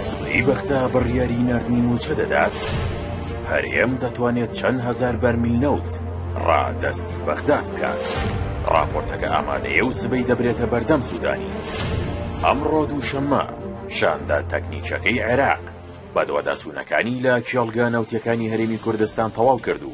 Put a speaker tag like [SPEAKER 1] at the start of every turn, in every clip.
[SPEAKER 1] سبەی بەغدا بڕیاری نردنی موچە دەدات هەرێم دەتوانێت چەند هزار بەرمیل نەوت ڕادەستی بەغدا بکات ڕاپۆرتەکە ئامادەیە و سبەی دەبرێتە بەردەم سوودانی ئەمڕۆ دووشەممە شاندە تەکنیکەکەی عێراق بەدواداچوونەکانی لە کێڵگە نەوتەکانی هەرێمی کوردستان تەواو کرد و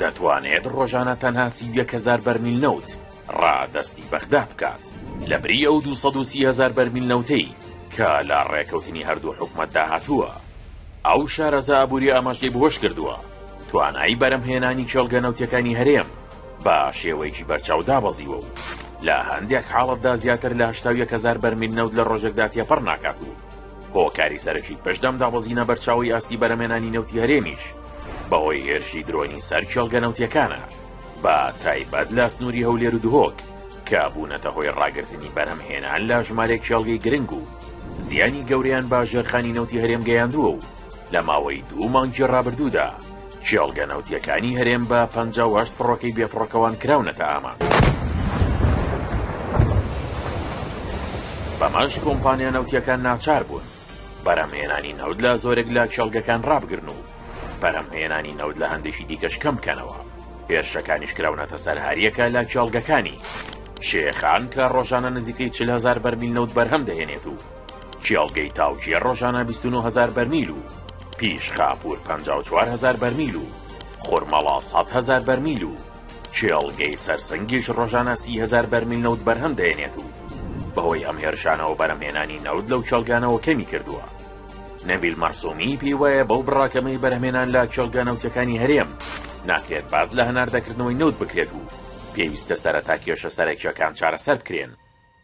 [SPEAKER 1] دەتوانێت ڕۆژانە تەنها سی و یەک هەزار بەرمیل نەوت ڕادەستی بەغدا بکات، لەبری ئەو دوو سەد و سی هەزار بەرمیل نەوتەی کە لە ڕێکەوتنی هەردوو حکومەتدا هاتووە. ئەو شارەزا ئابوورییە ئەمەش لێبهۆش کردووە، توانایی بەرهەمهێنانی کێڵگە نەوتییەکانی هەرێم بە شێوەیەکی بەرچاو دابەزیوە و لە هەندێک حاڵەتدا زیاتر لە هەشتا و یەک هەزار بەرمیل نەوت لە ڕۆژێکدا تێپەڕ ناکات و هۆکاری سەرەکی پشت بەم دابەزینە بەرچاوەی ئاستی بەرهەمێنانی نەوتی هەرێمیش بەهۆی هێرشی درۆنی سەر کێڵگە نەوتیەکانە بە تایبەت لە سنووری هەولێر و دهۆک کە بوونەتە هۆی ڕاگررتنی بەرهەم هێنان لە ژمارێک کێڵگەی گرنگ و زیانی گەوریان با ژێرخانی نەوتی هەرێم گەیاندووە و لە ماوەی دوو مانگی ڕابردوودا کێڵگە نەوتیەکانی هەرێم بە پ فڕۆکەی بێفڕۆکەوان کراونەتە ئامانج. بەمەش کۆمپانیا نەوتیەکان ناچار بوون بەرهەمهێنانی نەوت لە زۆرێک لە کێڵگەکان ڕابگرن و بەرهەمهێنانی نەوت لە هەندێکی دیکەش کەم بکەنەوە هێرشەکانیش کراونەتە سەر هەریەکە لە کێڵگەکانی شێخان کە ڕۆژانە نزیکەی چل هزار بەرمیل نەوت بەرهەم دەهێنێت و کێڵگەی تاوکیە ڕۆژانە 29 هزار بەرمیل و پیش خاپور 54 هزار بەرمیل و خورمەڵا 100 هزار بەرمیل و کێڵگەی سەرسەنگیش ڕۆژانە سی هەزار بەرمیل نەوت بەرهەم دەێنێت و بەهۆی ئەم هێرشانەوە بەرەمهێنانی نەوت لەو کێڵگانەوە کەمی کردووە نەبیل مەرسومی پێی وایە بەو بڕاکەمەی بەرهمێنان لە کێڵگە نەوتەکانی هەرێم ناکرێت باز لە هەناردەکردنەوەی نەوت بکرێت و پێویستە سەرەتا کێشە سەرەکیەکان چارەسەر بکرێن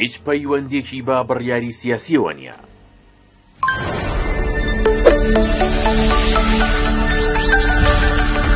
[SPEAKER 1] هیچ پەیوەندیەکی بە بڕیاری سیاسیەوە نیە.